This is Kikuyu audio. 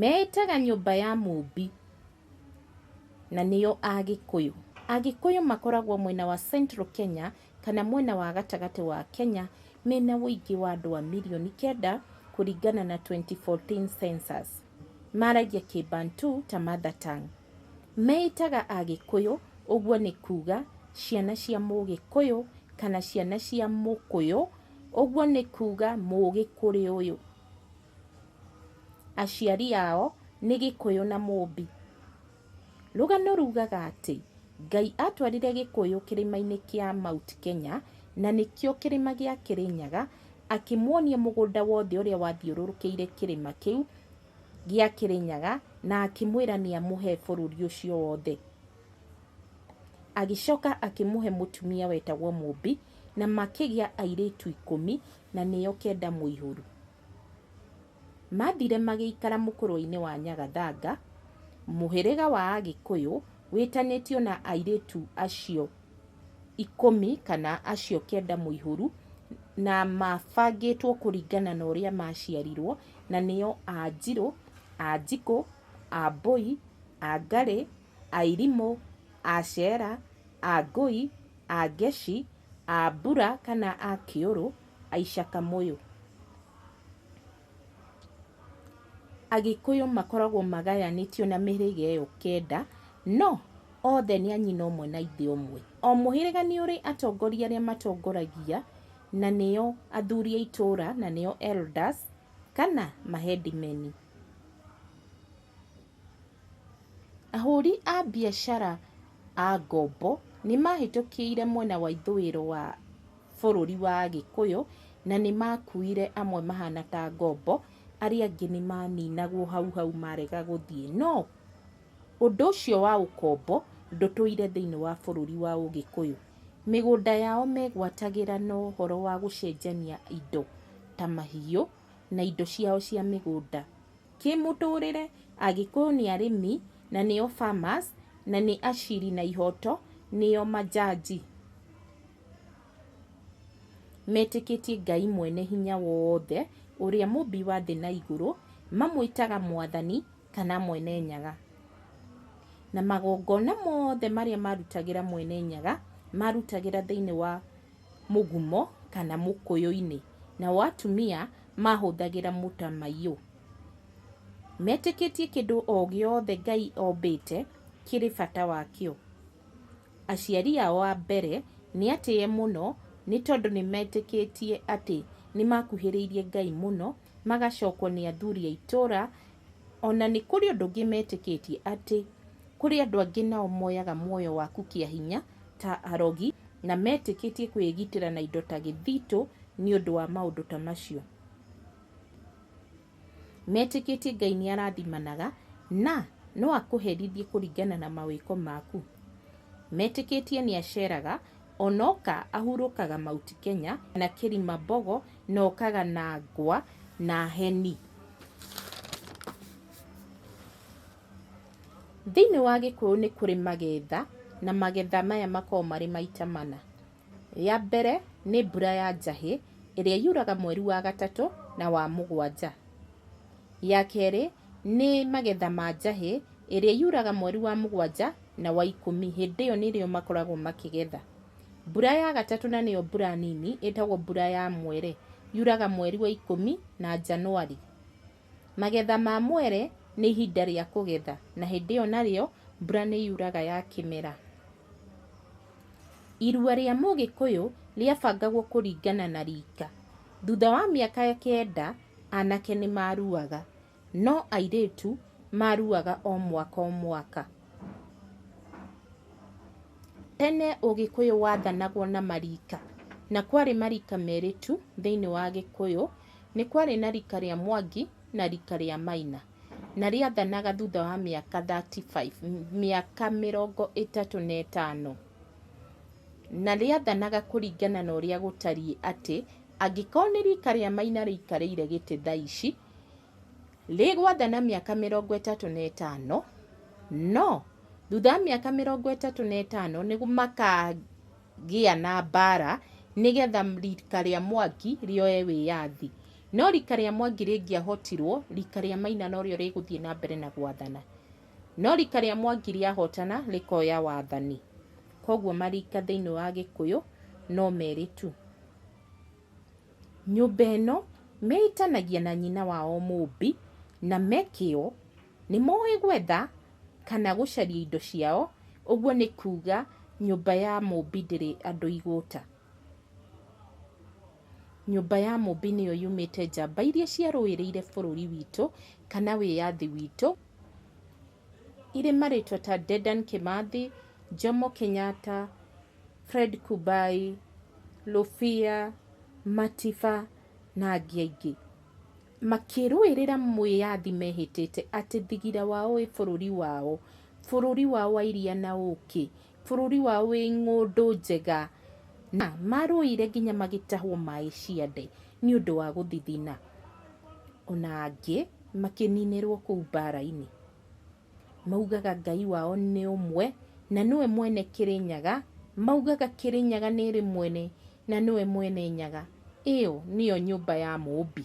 Meĩtaga nyũmba ya mũũmbi na nĩo Agĩkũyũ. Agĩkũyũ makoragwo mwena wa Central Kenya kana mwena wa gatagatĩ wa Kenya mena ũingĩ wa andũ a mirioni kenda kũringana na 2014 Census. Maragia Kĩbantu ta mother tongue. Meĩtaga Agĩkũyũ ũguo nĩ kuuga ciana cia Mũgĩkũyũ kana ciana cia Mũkũyũ ũguo nĩ kuuga Mũgĩkũrĩũyũ. aciari ao nĩ gĩkũyũ na mũmbi. Rũgano rugaga atĩ, Ngai atwarire gĩkũyũ kĩrĩma-inĩ kĩa Mount Kenya, na nĩkĩo kĩrĩma gĩa Kĩrĩnyaga, akĩmuonia mũgũnda wothe ũrĩa wathiũrũrũkĩire kĩrĩma kĩu gĩa Kĩrĩnyaga, na akĩmwĩra nĩ amũhe bũrũri ũcio wothe. Agĩcoka akĩmũhe mũtumia wetagwo mũmbi, na makĩgĩa airĩtu ikũmi. na nĩyo kenda mũihũru. Mathire magĩikara mũkũrũinĩ wa Nyagathanga, mũhĩrĩga wa Agĩkũyũ wĩtanĩtio na airĩtu acio ikũmi kana acio kenda mũihũru na mabangĩtwo kũringana na ũrĩa maciarirwo na nĩo Anjirũ, Anjikũ, Ambũi, Angarĩ, Airimũ, Acera, Angũi, Angeshi, A mbura kana a kĩũrũ, Aica Kamũyũ. Agĩkũyũ makoragwo magayanĩtio na mĩhĩrĩga ĩyo kenda, no othe nĩ a nyina ũmwe na ithe ũmwe. O mũhĩrĩga nĩ ũrĩ atongoria arĩa matongoragia, na nĩo athuri a itũũra, na nĩo elders kana ma headmen. Ahũri a biacara a ngombo nĩ mahĩtũkĩire mwena wa ithũĩro wa bũrũri wa Gĩkũyũ, na nĩ makuire amwe mahana ta ngombo, arĩa angĩ nĩ maninagwo hau hau marega gũthiĩ. No ũndũ ũcio wa ũkombo ndũtũire thĩinĩ wa bũrũri wa Ũgĩkũyũ. Mĩgũnda yao megwatagĩra na ũhoro wa gũcenjania indo ta mahiũ na indo ciao cia mĩgũnda. Kĩmũtũrĩre, Agĩkũyũ nĩ arĩmi na nĩo farmers na nĩ aciri na ihoto nĩo manjanji. Metĩkĩtie Ngai mwene hinya wothe ũrĩa mũmbi wa thĩ na igũrũ, mamwĩtaga mwathani kana mwene nyaga. Na magongona mothe marĩa marutagĩra mwene nyaga marutagĩra thĩinĩ wa mũgumo kana mũkũyũ-inĩ. Nao atumia mahũthagĩra mũtamaiyũ. Metĩkĩtie kĩndũ o gĩothe Ngai ombĩte kĩrĩ bata wakĩo. Aciari ao a mbere nĩ atĩe mũno nĩ tondũ nĩ metĩkĩtie atĩ nĩ makuhĩrĩirie Ngai mũno, magacokwo nĩ athuri a itũũra O na nĩ kũrĩ ũndũ ũngĩ metĩkĩtie, atĩ kũrĩ andũ angĩ nao moyaga muoyo waku kĩa hinya ta arogi, na metĩkĩtie kwĩgitĩra na indo ta gĩthitũ nĩ ũndũ wa maũndũ ta macio. Metĩkĩtie Ngai nĩ arathimanaga na no akũherithie kũringana na mawĩko maku. Metĩkĩtie nĩ aceraga Onoka ahurũkaga Mount Kenya na Kirimambogo na okaga na ngwa na heni. Thĩinĩ wa Gĩkũyũ nĩ kũrĩ magetha na magetha maya makoragwo marĩ maita mana. Rĩa mbere nĩ mbura ya njahĩ ĩrĩa yuraga mweri wa gatatũ na wa mũgwanja. Ya kerĩ nĩ magetha ma njahĩ ĩrĩa yuraga mweri wa mũgwanja na wa ikũmi, hĩndĩ ĩyo nĩrĩo makoragwo makĩgetha. Mbura ya gatatũ na nĩyo mbura nini ĩtagwo mbura ya mwere, yuraga mweri wa ikũmi na Janũarĩ. Magetha ma mwere nĩ ihinda rĩa kũgetha na hĩndĩ ĩyo narĩo mbura nĩ yuraga ya kĩmera. Irua rĩa Mũgĩkũyũ rĩabangagwo kũringana na rika. Thutha wa mĩaka kenda, anake nĩ maruaga. No airĩtu maruaga o mwaka o mwaka. Tene ũgĩkũyũ wathanagwo na marika, na kwarĩ marika merĩ tu thĩiniĩ wa gĩkũyũ, nĩ kwarĩ na rika rĩa Mwangi na rika rĩa Maina, na rĩathanaga thutha wa mĩaka thirty five, mĩaka mĩrongo ĩtatũ na ĩtano. Na rĩathanaga kũringana na ũrĩa gũtariĩ atĩ, angĩkorwo nĩ rika rĩa Maina rĩikarĩire gĩtĩ thaa ici, Rĩgwatha na mĩaka mĩrongo ĩtatũ na ĩtano, no thutha wa mĩaka mĩrongo ĩtatũ na ĩtano nĩ makagĩa na mbaara nĩgetha riika rĩa Mwangi rĩoye wĩyathi. No riika rĩa Mwangi rĩngĩahotirwo, riika rĩa Maina no rĩo rĩgũthiĩ na mbere na gwathana. No riika rĩa Mwangi rĩahotana rĩkoya wathani. Kwoguo marika thĩinĩ wa Gĩkũyũ no merĩ tu. Nyũmba ĩno meĩtanagia na nyina wao mũũmbi na me kĩo. Nĩ moĩ gwetha kana gũcaria indo ciao, ũguo nĩ kuuga nyũmba ya mũũmbi ndĩrĩ andũ igũta. Nyũmba ya mũũmbi nĩyo yumĩte njamba iria ciarũĩrĩire bũrũri witũ kana wĩyathi witũ. irĩ marĩtwa ta Dedan Kĩmathi, Jomo Kenyatta, Fred Kubai, Lũbia, Matiba na angĩ aingĩ. Makĩrũĩrĩra mwĩyathi mehĩtĩte atĩ thigira wao wĩ bũrũri wao, bũrũri wao wa iria na ũkĩ, bũrũri wao wĩ ng'ũndũ njega. Na marũĩire nginya magĩtahwo maĩ ciande nĩ ũndũ wa gũthithina. Ona angĩ... makĩninĩrwo kũu mbaara-inĩ. Maugaga Ngai wao nĩ ũmwe, na nĩwe mwene Kĩrĩnyaga, maugaga Kĩrĩnyaga nĩ ĩrĩ mwene, na nĩwe mwene Nyaga, ĩyo nĩyo nyũmba ya Mũũmbi.